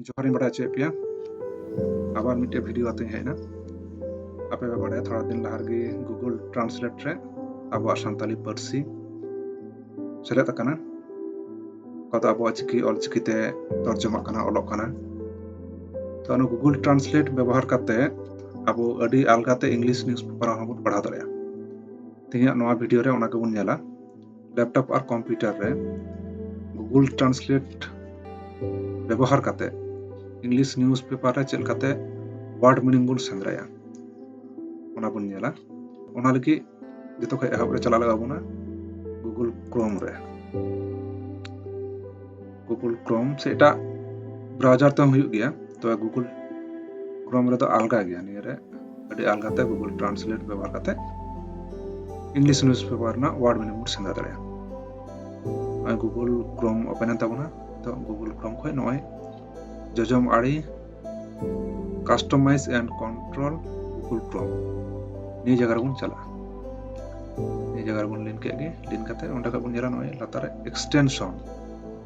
ᱡᱚᱦᱟᱨᱤᱧ ᱵᱟᱲᱟᱭ ᱦᱚᱪᱚᱭᱮᱫ ᱯᱮᱭᱟ ᱟᱵᱟᱨ ᱢᱤᱫᱴᱮᱡ ᱵᱷᱤᱰᱤᱭᱳ ᱟᱛᱮᱧ ᱦᱮᱡ ᱮᱱᱟ ᱟᱯᱮ ᱯᱮ ᱵᱟᱲᱟᱭᱟ ᱛᱷᱚᱲᱟ ᱫᱤᱱ ᱞᱟᱦᱟ ᱨᱮᱜᱮ ᱜᱩᱜᱩᱞ ᱴᱨᱟᱱᱥᱞᱮᱴ ᱨᱮ ᱟᱵᱚᱣᱟᱜ ᱥᱟᱱᱛᱟᱞᱤ ᱯᱟᱹᱨᱥᱤ ᱥᱮᱞᱮᱫ ᱟᱠᱟᱱᱟ ᱚᱠᱟ ᱫᱚ ᱟᱵᱚᱣᱟᱜ ᱪᱤᱠᱤ ᱚᱞ ᱪᱤᱠᱤᱛᱮ ᱛᱚᱨᱡᱚᱢᱟᱜ ᱠᱟᱱᱟ ᱚᱞᱚᱜ ᱠᱟᱱᱟ ᱛᱚ ᱚᱱᱟ ᱜᱩᱜᱩᱞ ᱴᱨᱟᱱᱥᱞᱮᱴ ᱵᱮᱵᱚᱦᱟᱨ ᱠᱟᱛᱮ ᱟᱵᱚ ᱟᱹᱰᱤ ᱟᱞᱜᱟᱛᱮ ᱤᱝᱞᱤᱥ ᱱᱤᱭᱩᱡᱽ ᱯᱮᱯᱟᱨ ᱦᱚᱸᱵᱚᱱ ᱯᱟᱲᱦᱟᱣ ᱫᱟᱲᱮᱭᱟᱜᱼᱟ ᱛᱮᱦᱮᱧᱟᱜ ᱱᱚᱣᱟ ᱵᱷᱤᱰᱤᱭᱳ ᱨᱮ ᱚᱱᱟ ᱜᱮᱵᱚᱱ ᱧᱮᱞᱟ ᱞᱮᱯᱴᱚᱯ ᱟᱨ ᱠᱚᱢᱯᱤᱭᱩᱴᱟᱨ ᱨᱮ ᱜᱩᱜᱩᱞ ᱴᱨᱟᱱᱥᱞᱮᱴ ᱵᱮᱵᱚᱦᱟᱨ ᱠᱟᱛᱮ ᱤᱝᱞᱤᱥ ᱱᱤᱭᱩᱡᱽ ᱯᱮᱯᱟᱨ ᱨᱮ ᱪᱮᱫ ᱠᱟᱛᱮ ᱣᱟᱨᱰ ᱢᱤᱱᱤᱝ ᱵᱚᱱ ᱥᱮᱸᱫᱽᱨᱟᱭᱟ ᱚᱱᱟ ᱵᱚᱱ ᱧᱮᱞᱟ ᱚᱱᱟ ᱞᱟᱹᱜᱤᱫ ᱡᱚᱛᱚ ᱠᱷᱚᱱ ᱮᱦᱚᱵ ᱨᱮ ᱪᱟᱞᱟᱣ ᱞᱟᱜᱟᱣ ᱵᱚᱱᱟ ᱜᱩᱜᱩᱞ ᱠᱨᱳᱢ ᱨᱮ ᱜᱩᱜᱩᱞ ᱠᱨᱳᱢ ᱥᱮ ᱮᱴᱟᱜ ᱵᱨᱟᱣᱡᱟᱨ ᱛᱮᱦᱚᱸ ᱦᱩᱭᱩᱜ ᱜᱮᱭᱟ ᱛᱚᱵᱮ ᱜᱩᱜᱩᱞ ᱠᱨᱳᱢ ᱨᱮᱫᱚ ᱟᱞᱜᱟ ᱜᱮᱭᱟ ᱱᱤᱭᱟᱹ ᱨᱮ ᱟᱹᱰᱤ ᱟᱞᱜᱟ ᱛᱮ ᱜᱩᱜᱩᱞ ᱴᱨᱟᱱᱥᱞᱮᱴ ᱵᱮᱵᱚᱦᱟᱨ ᱠᱟᱛᱮ ᱤᱝᱞᱤᱥ ᱱᱤᱭᱩᱡᱽ ᱯᱮᱯᱟᱨ ᱨᱮᱱᱟᱜ ᱣᱟᱨᱰ ᱢᱤᱱᱤᱝ ᱵᱚᱱ ᱥᱮᱸᱫᱽᱨᱟ ᱫᱟᱲᱮᱭᱟᱜᱼᱟ ᱱᱚᱜᱼᱚᱭ ᱜᱩᱜᱩᱞ ᱠᱨᱳᱢ ᱳᱯᱮᱱ ᱮᱱ ᱛᱟᱵᱚᱱᱟ ᱛᱚ ᱜᱩᱜᱩᱞ ᱠᱨᱳᱢ ᱠᱷᱚᱱ ᱱᱚᱜᱼᱚᱭ ᱡᱚᱡᱚᱢ ᱟᱲᱮ customize and control Google chrome ᱱᱤᱭᱟᱹ ᱡᱟᱭᱜᱟ ᱨᱮᱵᱚᱱ ᱪᱟᱞᱟᱜᱼᱟ ᱱᱤᱭᱟᱹ ᱡᱟᱭᱜᱟ ᱨᱮᱵᱚᱱ ᱞᱤᱱ ᱠᱮᱫ ᱜᱮ ᱞᱤᱱ ᱠᱟᱛᱮ ᱚᱸᱰᱮ ᱠᱷᱚᱱ ᱵᱚᱱ ᱧᱮᱞᱟ ᱱᱚᱜᱼᱚᱭ ᱞᱟᱛᱟᱨ ᱨᱮ ᱮᱠᱥᱴᱮᱱᱥᱚᱱ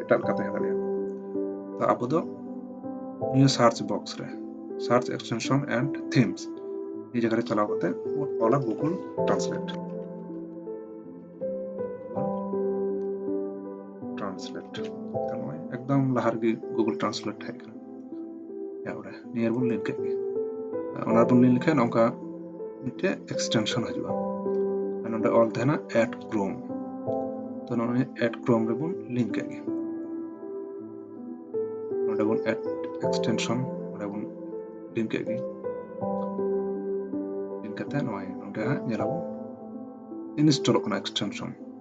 ᱮᱴᱟᱜ ᱞᱮᱠᱟ ᱛᱟᱦᱮᱸ ᱫᱟᱲᱮᱭᱟᱜᱼᱟ ᱛᱚ ᱟᱵᱚ ᱫᱚ ᱱᱤᱭᱟᱹ ᱥᱟᱨᱪ ᱵᱚᱠᱥ ᱨᱮ ᱥᱟᱨᱪ ᱮᱠᱥᱴᱮᱱᱥᱚᱱ ᱮᱱᱰ ᱛᱷᱤᱢᱥ ᱱᱤᱭᱟᱹ ᱡᱟᱭᱜᱟ ᱨᱮ ᱪᱟᱞᱟᱣ ᱠᱟᱛᱮ ᱵᱚᱱ ᱚᱞᱟ ᱜᱩᱜᱩᱞ ᱴᱨᱟᱱᱥᱞᱮᱴ ᱴᱨᱟᱱᱥᱞᱮᱴ ᱛᱟᱦᱞᱮ ᱮᱠᱫᱚᱢ ᱞᱟᱦᱟ ᱨᱮᱜᱮ ᱜᱩᱜᱩᱞ ᱴᱨᱟᱱᱥᱞᱮᱴ ᱦᱮᱡ ᱛᱟᱯᱚᱨᱮ ᱱᱤᱭᱟᱹ ᱵᱚᱱ ᱞᱤᱱ ᱠᱮᱫ ᱜᱮ ᱚᱱᱟ ᱵᱚᱱ ᱞᱤᱱ ᱞᱮᱠᱷᱟᱱ ᱱᱚᱝᱠᱟ ᱢᱤᱫᱴᱮᱡ ᱮᱠᱥᱴᱮᱱᱥᱚᱱ ᱦᱤᱡᱩᱜᱼᱟ ᱟᱨ ᱱᱚᱰᱮ ᱚᱞ ᱛᱟᱦᱮᱱᱟ ᱮᱰ ᱠᱨᱳᱢ ᱛᱚ ᱱᱚᱜᱼᱚᱭ ᱮᱰ ᱠᱨᱳᱢ ᱨᱮᱵᱚᱱ ᱞᱤᱱ ᱠᱮᱫ ᱜᱮ ᱱᱚᱰᱮ ᱵᱚᱱ ᱮᱰ ᱮᱠᱥᱴᱮᱱᱥᱚᱱ ᱱᱚᱰᱮ ᱵᱚᱱ ᱞᱤᱱ ᱠᱮᱫ ᱜᱮ ᱞᱤᱱ ᱠᱟᱛᱮ ᱱᱚᱜᱼᱚᱭ ᱱᱚᱰᱮ ᱦᱟᱸᱜ ᱧᱮᱞᱟᱵᱚᱱ ᱤᱱᱥᱴᱚᱞᱚᱜ ᱠᱟᱱᱟ ᱮᱠᱥᱴᱮᱱᱥᱚᱱ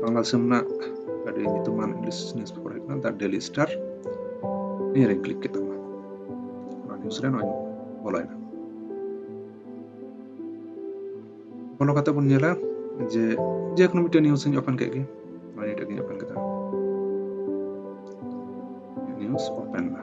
ᱵᱟᱝᱞᱟ ᱫᱤᱥᱚᱢ ᱨᱮᱱᱟᱜ ᱟᱹᱰᱤ ᱧᱩᱛᱩᱢᱟᱱ ᱤᱝᱞᱤᱥ ᱱᱤᱭᱩᱡᱽ ᱯᱮᱯᱟᱨ ᱦᱩᱭᱩᱜ ᱠᱟᱱᱟ ᱫᱟ ᱰᱮᱞᱤ ᱥᱴᱟᱨ ᱱᱤᱭᱟᱹ ᱨᱮᱧ ᱠᱞᱤᱠ ᱠᱮᱫ ᱛᱟᱢᱟ ᱚᱱᱟ ᱱᱤᱭᱩᱡᱽ ᱨᱮ ᱱᱚᱣᱟᱧ ᱵᱚᱞᱚᱭᱮᱱᱟ ᱵᱚᱞᱚ ᱠᱟᱛᱮ ᱵᱚᱱ ᱧᱮᱞᱟ ᱡᱮ ᱡᱮ ᱠᱳᱱᱳ ᱢᱤᱫᱴᱮᱱ ᱱᱤᱭᱩᱡᱽ ᱤᱧ ᱳᱯᱮᱱ ᱠᱮᱫ ᱜᱮ ᱱᱚᱣᱟ ᱱᱤᱭᱟᱹᱴᱟᱜ ᱜᱤᱧ ᱳᱯᱮᱱ ᱠᱮᱫᱟ ᱱᱤᱭᱩᱡᱽ ᱳᱯᱮᱱ ᱮᱱᱟ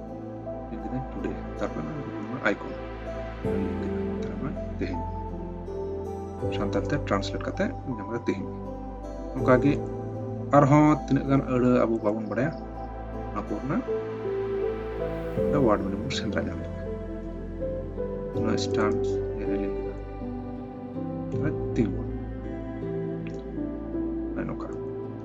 ᱛᱟᱨᱯᱚᱨ ᱟᱭᱠᱚᱱ ᱛᱮᱦᱮᱧ ᱥᱟᱱᱛᱟᱲ ᱛᱮ ᱴᱨᱟᱱᱥᱞᱮᱴ ᱠᱟᱛᱮ ᱧᱟᱢ ᱠᱟᱛᱮ ᱛᱮᱦᱮᱧ ᱚᱱᱠᱟᱜᱮ ᱟᱨᱦᱚᱸ ᱛᱤᱱᱟᱹᱜ ᱜᱟᱱ ᱟᱹᱲᱟᱹ ᱟᱵᱚ ᱵᱟᱵᱚᱱ ᱵᱟᱲᱟᱭᱟ ᱚᱱᱟ ᱠᱚ ᱨᱮᱱᱟᱜ ᱣᱟᱨᱰ ᱢᱤᱱᱤᱝ ᱵᱚᱱ ᱥᱮᱸᱫᱽᱨᱟ ᱧᱟᱢ ᱞᱮᱠᱷᱟᱱ ᱚᱱᱟ ᱥᱴᱟᱱᱥ ᱨᱮᱞᱤᱝ ᱛᱤᱸᱜᱩ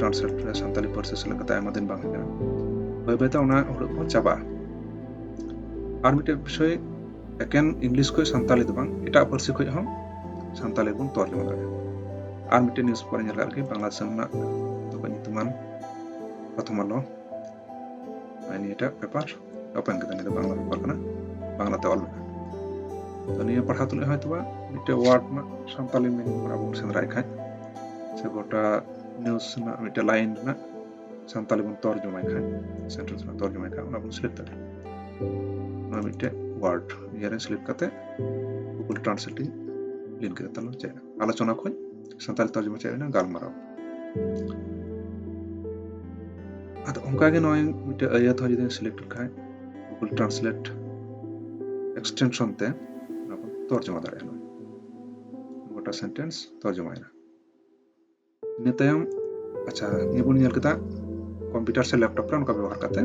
ᱴᱨᱟᱱᱥᱞᱮᱴ ᱠᱮᱫᱟ ᱥᱟᱱᱛᱟᱞᱤ ᱯᱟᱹᱨᱥᱤ ᱥᱮᱞᱮᱫ ᱠᱟᱛᱮ ᱟᱭᱢᱟ ᱫᱤᱱ ᱵᱟᱝ ᱦᱩᱭ ᱠᱟᱱᱟ ᱵᱟᱹᱭ ᱵᱟᱹᱭᱛᱮ ᱚᱱᱟ ᱦᱩᱲᱩ ᱠᱚ ᱪᱟᱵᱟᱜᱼᱟ ᱟᱨ ᱢᱤᱫᱴᱮᱱ ᱵᱤᱥᱚᱭ ᱮᱠᱮᱱ ᱤᱝᱞᱤᱥ ᱠᱷᱚᱱ ᱥᱟᱱᱛᱟᱞᱤ ᱫᱚ ᱵᱟᱝ ᱮᱴᱟᱜ ᱯᱟᱹᱨᱥᱤ ᱠᱷᱚᱱ ᱦᱚᱸ ᱥᱟᱱᱛᱟᱞᱤ ᱵᱚᱱ ᱛᱚᱨᱡᱚᱢᱟ ᱫᱟᱲᱮᱭᱟᱜᱼᱟ ᱟᱨ ᱢᱤᱫᱴᱮᱱ ᱱᱤᱭᱩᱡ ᱯᱮᱯᱟᱨ ᱧᱮᱞ ᱟᱨᱠᱤ ᱵᱟᱝᱞᱟ ᱫᱤᱥᱚᱢ ᱨᱮᱱᱟᱜ ᱛᱚᱠᱚ ᱧᱩᱛᱩᱢᱟᱱ ᱯᱨᱚᱛᱷᱚᱢ ᱟᱞᱚ ᱱᱤᱭᱟᱹᱴᱟᱜ ᱯᱮᱯᱟᱨ ᱚᱯᱮᱱ ᱠᱮᱫᱟ ᱱᱤᱭᱟᱹ ᱫᱚ ᱵᱟᱝᱞᱟ ᱯᱮᱯᱟᱨ ᱠᱟᱱᱟ ᱵᱟᱝᱞᱟ ᱛᱮ ᱚᱞ ᱛᱚ ᱱᱤᱭᱟᱹ ᱯᱟᱲᱦᱟᱣ ᱛᱩᱞᱩᱡ ᱦᱚᱭᱛᱳ ᱵᱟ ᱢᱤᱫᱴᱮᱡ ᱣᱟᱨᱰ ᱨᱮᱱᱟᱜ ᱥᱟᱱᱛᱟᱞᱤ ᱢᱤᱱᱤᱝ ᱚᱱᱟ ᱵᱚᱱ ᱥᱮᱸᱫᱽᱨᱟᱭ ᱠᱷᱟᱡ ᱥᱮ ᱜᱚᱴᱟ ᱱᱤᱭᱩᱡᱽ ᱨᱮᱱᱟᱜ ᱢᱤᱫᱴᱮᱡ ᱞᱟᱭᱤᱱ ᱨᱮᱱᱟᱜ ᱥᱟᱱᱛᱟᱞᱤ ᱵᱚᱱ ᱛᱚᱨᱡᱚᱢᱟᱭ ᱠᱷᱟᱡ ᱥᱮᱱᱴᱮᱱᱥ ᱨᱮᱱᱟᱜ ᱛᱚᱨᱡᱚᱢᱟᱭ ᱠᱷᱟᱡ ᱚᱱᱟ ᱵᱚᱱ ᱥᱤᱞᱮᱠᱴ ᱫᱟᱲᱮᱭᱟᱜᱼᱟ ᱚᱱᱟ ᱢᱤᱫᱴᱮᱡ ᱣᱟᱨᱰ ᱤᱭᱟᱹᱨᱮ ᱥᱤᱞᱮᱠᱴ ᱠᱟᱛᱮ ᱜᱩᱜᱩᱞ ᱴᱨᱟᱱᱥᱞᱮᱴ ᱤᱧ ᱞᱤᱱ ᱠᱮᱫᱟ ᱛᱟᱦᱚᱞᱮ ᱪᱮᱫ ᱟᱞᱳᱪᱚᱱᱟ ᱠᱷᱚᱡ ᱥᱟᱱᱛᱟᱲ ᱛᱚᱨᱡᱚᱢᱟ ᱪᱮᱫ ᱦᱩᱭᱱᱟ ᱜᱟᱞᱢᱟᱨᱟᱣ ᱟᱫᱚ ᱚᱱᱠᱟᱜᱮ ᱱᱚᱜᱼᱚᱭ ᱢᱤᱫᱴᱮᱡ ᱟᱹᱭᱟᱹᱛ ᱦᱚᱸ ᱡᱩᱫᱤ ᱥᱤᱞᱮᱠᱴ ᱞᱮᱠᱷᱟᱡ ᱜᱩᱜᱩᱞ ᱴᱨᱟᱱᱥᱞᱮᱴ ᱮᱠᱥᱴᱮᱱᱥᱚᱱ ᱛᱮ ᱚᱱᱟ ᱵᱚᱱ ᱛᱚᱨᱡᱚᱢᱟ ᱫᱟᱲᱮᱭᱟᱜᱼᱟ ᱜᱚᱴᱟ ᱥᱮᱱᱴᱮᱱᱥ ᱛᱚᱨᱡᱚᱢᱟᱭᱮᱱᱟ ᱤᱱᱟᱹ ᱛᱟᱭᱚᱢ ᱟᱪᱪᱷᱟ ᱱᱤᱭᱟᱹ ᱵᱚᱱ ᱧᱮᱞ ᱠᱮᱫᱟ ᱠᱚᱢᱯᱤᱭᱩᱴᱟᱨ ᱥᱮ ᱞᱮᱯᱴᱚᱯ ᱨᱮ ᱚᱱᱠᱟ ᱵᱮᱵᱚᱦᱟᱨ ᱠᱟᱛᱮ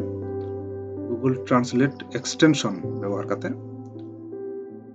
ᱜᱩᱜᱩᱞ ᱴᱨᱟᱱᱥᱞᱮᱴ ᱮᱠᱥᱴᱮᱱᱥᱚᱱ ᱵᱮᱵᱚᱦᱟᱨ ᱠᱟᱛᱮ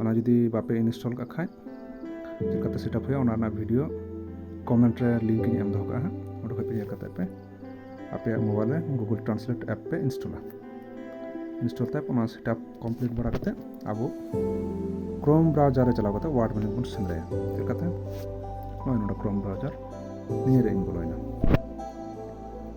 ᱚᱱᱟ ᱡᱩᱫᱤ ᱵᱟᱯᱮ ᱤᱱᱥᱴᱚᱞ ᱠᱟᱜ ᱠᱷᱟᱡ ᱪᱮᱫ ᱞᱮᱠᱟᱛᱮ ᱥᱮᱴᱟᱯ ᱦᱩᱭᱩᱜᱼᱟ ᱚᱱᱟ ᱨᱮᱱᱟᱜ ᱵᱷᱤᱰᱤᱭᱳ ᱠᱚᱢᱮᱱᱴ ᱨᱮ ᱞᱤᱝᱠ ᱤᱧ ᱮᱢ ᱫᱚᱦᱚ ᱠᱟᱜᱼᱟ ᱦᱟᱸᱜ ᱚᱸᱰᱮ ᱠᱷᱚᱡ ᱯᱮ ᱧᱮᱞ ᱠᱟᱛᱮ ᱯᱮ ᱟᱯᱮᱭᱟᱜ ᱢᱳᱵᱟᱭᱤᱞ ᱨᱮ ᱜᱩᱜᱩᱞ ᱴᱨᱟᱱᱥᱞᱮᱴ ᱮᱯ ᱯᱮ ᱤᱱᱥᱴᱚᱞᱟ ᱤᱱᱥᱴᱚᱞ ᱛᱟᱭᱚᱢ ᱚᱱᱟ ᱥᱮᱴᱟᱯ ᱠᱚᱢᱯᱞᱤᱴ ᱵᱟᱲᱟ ᱠᱟᱛᱮ ᱟᱵᱚ ᱠᱨᱳᱢ ᱵᱨᱟᱣᱡᱟᱨ ᱨᱮ ᱪᱟᱞᱟᱣ ᱠᱟᱛᱮ ᱣᱟᱨᱰ ᱢᱮᱱᱤᱝ ᱵᱚᱱ ᱥᱮᱸᱫᱽᱨᱟᱭᱟ ᱪᱮᱫ ᱞᱮᱠᱟᱛᱮ ᱱᱚᱜᱼᱚᱭ ᱱᱚᱰᱮ ᱠᱨᱳᱢ ᱵᱨᱟᱣᱡᱟᱨ ᱱᱤᱭᱟᱹ ᱨᱮ ᱤᱧ ᱵᱚᱞᱚᱭᱮᱱᱟ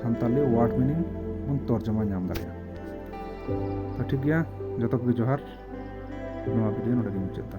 ᱥᱟᱱᱛᱟᱞᱤ ᱣᱟᱨᱰ ᱢᱤᱱᱤᱝ ᱵᱚᱱ ᱛᱚᱨᱡᱚᱢᱟ ᱧᱟᱢ ᱫᱟᱲᱮᱭᱟᱜᱼᱟ ᱛᱚ ᱴᱷᱤᱠ ᱜᱮᱭᱟ ᱡᱚᱛᱚ ᱠᱚᱜᱮ ᱡᱚᱦᱟᱨ ᱱᱚᱣᱟ ᱵᱷᱤᱰᱤᱭᱳ ᱱᱚᱰᱮ ᱜᱤᱧ ᱢᱩᱪᱟᱹᱫ ᱮᱫᱟ